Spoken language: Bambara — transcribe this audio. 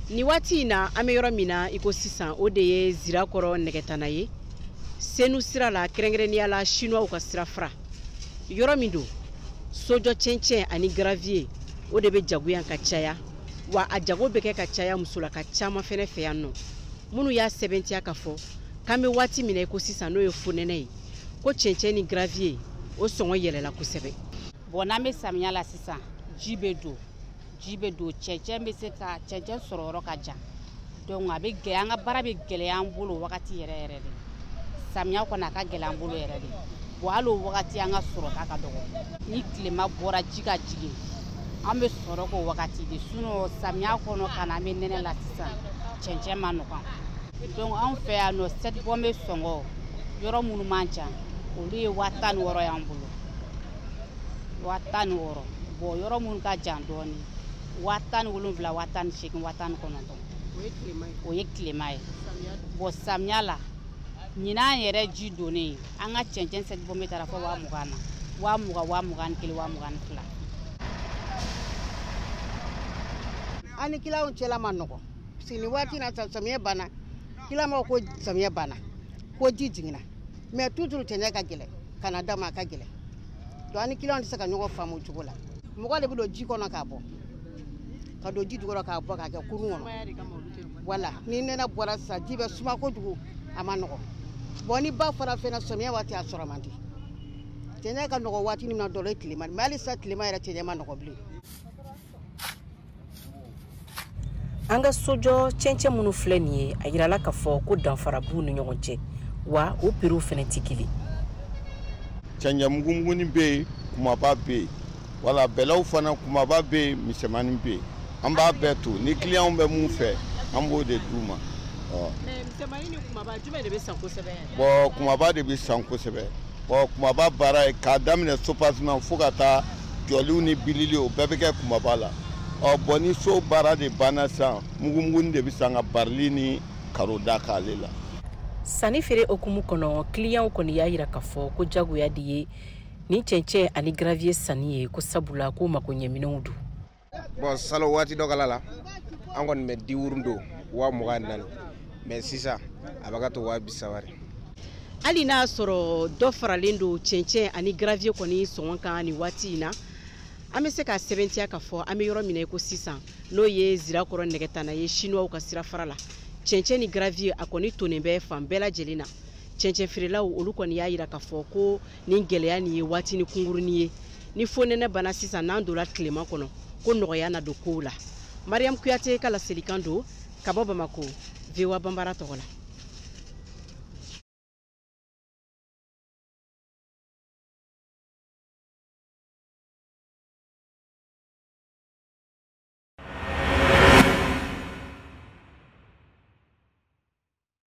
ni waati in na an bɛ yɔrɔ min na i ko sisan o de ye zirakɔrɔ nɛgɛtana ye senu sira la kɛrɛnkɛrɛnnenya la sinuwaw ka sira fara yɔrɔ min don sojɔ cɛncɛn ani garaviye o de bɛ jago yan ka caya wa a jago bɛ kɛ ka caya musolaka caman fɛnɛ fɛ yan nɔ minnu y'a sɛbɛntiya ka fɔ k'an bɛ waati min na i ko sisan n'o ye fonɛnɛ ye ko cɛncɛn ni gravier o sɔngɔ yɛlɛla kosɛbɛ bɔn n'an bɛ samiya la sisan ji bɛ don ji bɛ don cɛncɛn bɛ se ka cɛncɛn sɔrɔ yɔrɔ ka jan donc a bɛ gɛlɛya an ka baara bɛ gɛlɛya an bolo wagati yɛrɛ yɛrɛ de samiya kɔni a ka gɛlɛya an bolo yɛrɛ de bɔn hali o wagati an ka sɔrɔta ka dɔgɔ ni tilema bɔra ji ka jigin an bɛ sɔrɔ k'o wagati de sinɔn samiya kɔnɔ ka na an bɛ nɛnɛ la sisan cɛncɛn man nɔgɔn donc anw fɛ yan nɔ sɛti bɔnbɛ sɔngɔ yɔrɔ minnu man jan olu ye waa tan ni wɔɔrɔ y'an bolo waa tan ni wɔɔrɔ bɔn yɔrɔ minnu ka jan dɔɔni waa tan ni wolonwula waa tan ni seegin waa tan ni kɔnɔntɔn o ye tilema ye bɔn samiya la ɲinan yɛrɛ ji donnen an ka cɛncɛn sɛti bɔnbɛ taara fɔ waa mugan na waa mugan waa mugan ni kelen waa mugan ni fila an ni kiliyanw cɛla man nɔgɔn nin waati na samiyɛ banna kiliyan ma ko samiyɛ banna ko ji jiginna mɛ tuzuru cɛncɛn ka gɛlɛn ka na da ma a ka gɛlɛn donc an ni kiliyanw tɛ se ka ɲɔgɔn faamu cogo la mɔgɔ de bɛ don ji kɔnɔ k'a bɔ ka don ji jukɔrɔ k'a bɔ k'a kɛ kurun kɔnɔ wala ni nɛnɛ bɔra sisan ji bɛ suma kojugu a man nɔgɔn bɔn ni ba fara fɛnɛ samiyɛ waati a sɔrɔ man di cɛncɛn ka nɔgɔn waati min na dɔrɔn ye tilema mɛ hali sisan tilema yɛrɛ cɛncɛn man nɔgɔn bilen an ka sojɔ cɛncɛn minnu filɛ nin ye a yirala k'a fɔ ko danfara b'u ni ɲɔgɔn cɛ wa o piriw fɛnɛ tɛ kelen cɛncɛn mugumugunin bɛ yen kumaba bɛ yen wala bɛlɛw fana kumaba bɛ yen misɛnmanin bɛ yen an b'a bɛɛ to ni kiliyanw bɛ mun fɛ an b'o de d'u ma. misɛnmanin ni kumaba jumɛn de bɛ san kosɛbɛ bɔn kumaba de bɛ san kosɛbɛ bɔn kumaba baara ye k'a daminɛ subasiman fo ka taa jɔliw ni bilili o bɛɛ bɛ kɛ kumaba la ɔ bɔn ni so baara de banna san mugumugunin de bɛ san ka barili ni karo da k'ale la sanni feere hukumu kɔnɔ kiliyanw kɔni y'a yira k'a fɔ ko jagoya de ye nin cɛncɛn ani gravier sanni ye ko sabula ko makoɲɛminɛnw don bon salo waati dɔ kala la an kɔni bɛ dix roues don waa mugan ni naani mais sisan a bɛ ka to waa bi saba de hali n'a sɔrɔ dɔ faralen don cɛncɛn ani gravier kɔni sɔngɔ kan nin waati in na an bɛ se k'a sɛbɛntiya k'a fɔ an bɛ yɔrɔ min na i ko sisan n'o ye zirakɔrɔ nɛgɛtana ye sinuwaw ka sirafara la cɛncɛn ni gravier a kɔni tonnen bɛ fan bɛɛ lajɛlen na cɛncɛn feerelaw olu kɔni y'a yira k'a fɔ ko nin gɛlɛya nin ye waatinin kunkurunin ye ni fonɛnɛ banna sisan n'an donna tilema kɔnɔ ko nɔgɔya na don kow la mariyamu kuyate ka laselikan don ka bɔ bamako voa banbara tɔgɔ la